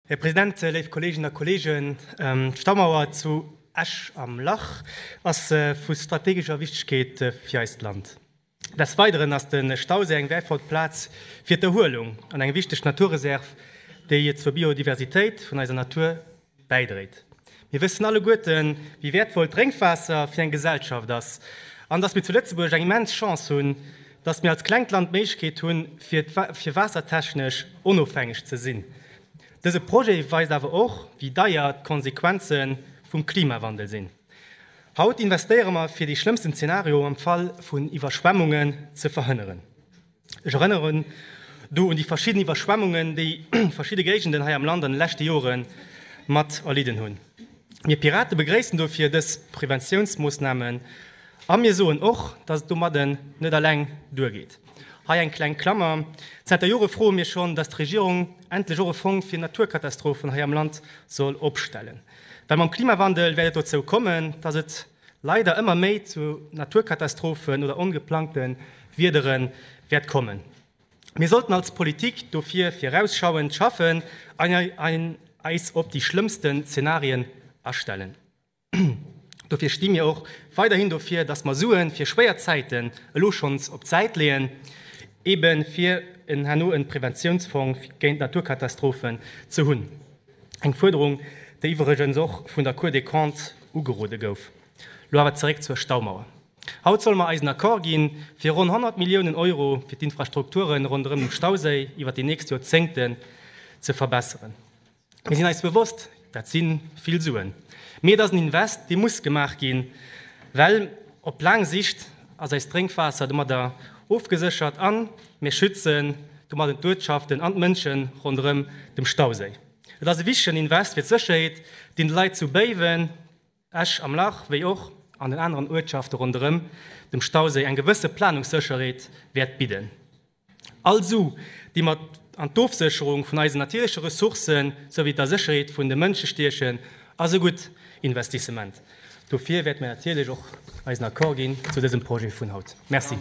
Här President, léif Kolleeginnen a Kolleegen, d'Staumauer zu Esch am Lach ass vu strategescher Wichtigkeet fir eist Land. Des Weideren ass de Stauséi eng wäertvoll Plaz fir d'Erhuelung an eng wichteg Naturreserv, déi zur Biodiversitéit vun eiser Natur bäidréit. Mir wëssen alleguerten, wéi wäertvoll d'Drénkwaasser fir eng Gesellschaft ass an dass mir zu Lëtzebuerg eng immens Chance hunn, dass mir als klengt Land d'Méiglechkeet hunn, fir waassertechnesch onofhängeg ze sinn. Dëse Projet weist awer och, wéi deier d'Konsequenze vum Klimawandel sinn. Haut investéiere mer, fir dee schlëmmsten Zeenario am Fall vun Iwwerschwemmunge ze verhënneren. Ech erënneren do un déi verschidden Iwwerschwemmungen, déi verschidde Géigenden hei am Land an de leschte Jore mat erlidden hunn. Mir Pirate begréissen dofir dës Preventiounsmoossnamen a mir soen och, dass et domadden net alleng duergeet. Hei eng kleng Klammer, Zenter Jore froe mir schonn, dass d'Regierung endlech och e Fong fir Naturkatastrophen hei am Land soll opstellen, well mam Klimawandel wäert et dozou kommen, dass et leider ëmmer méi zu Naturkatastrophen oder ongeplangte Wiedere wäert kommen. Mir sollten als Politik dofir virausschauend schaffen an eis op déi schlëmmste Zenarien astellen. Dofir sti mir och weiderhin dofir, dass mer Sue fir schwéier Zäiten elo schonns op d'Säit leeën, ebe fir herno e Preventiounsfong géint Naturkatastrophen ze hunn. Eng Fuerderung, déi iwwregens och vun der Cour des Comptes ugerode gouf. Lo awer zeréck zur Staumauer. Haut solle mer eisen Accord gi fir ronn 100 Milliounen Euro fir d'Infrastrukturen ronderëm dem Stauséi iwwer déi nächst Joerzéngten ze verbesseren. Mir sinn eis bewosst, dat si vill Suen. Mee et ass en Invest, dee muss gemaach ginn, well op laang Sicht ass eist Drénkwaasser domadder ofgeséchert an Mir schützen domadden d'Uertschaften an d'Mënschen ronderëm dem Stauséi. Et ass e wichtegen Invest fir d'Sécherheet, deen de Leit zu Béiwen, Esch am Lach wéi och an den aneren Uertschafte ronderëm dem Stauséi eng gewësse Planungssécherheet wäert bidden. All Su, déi mat an d'Ofsécherung vun eisen natierleche Ressourcen souwéi der Sécherheet vun de Mënsche stiechen, ass e gutt Investissement. Dofir wäerte mir natierlech och eisen Accord ginn zu dësem Projet vun haut. Merci.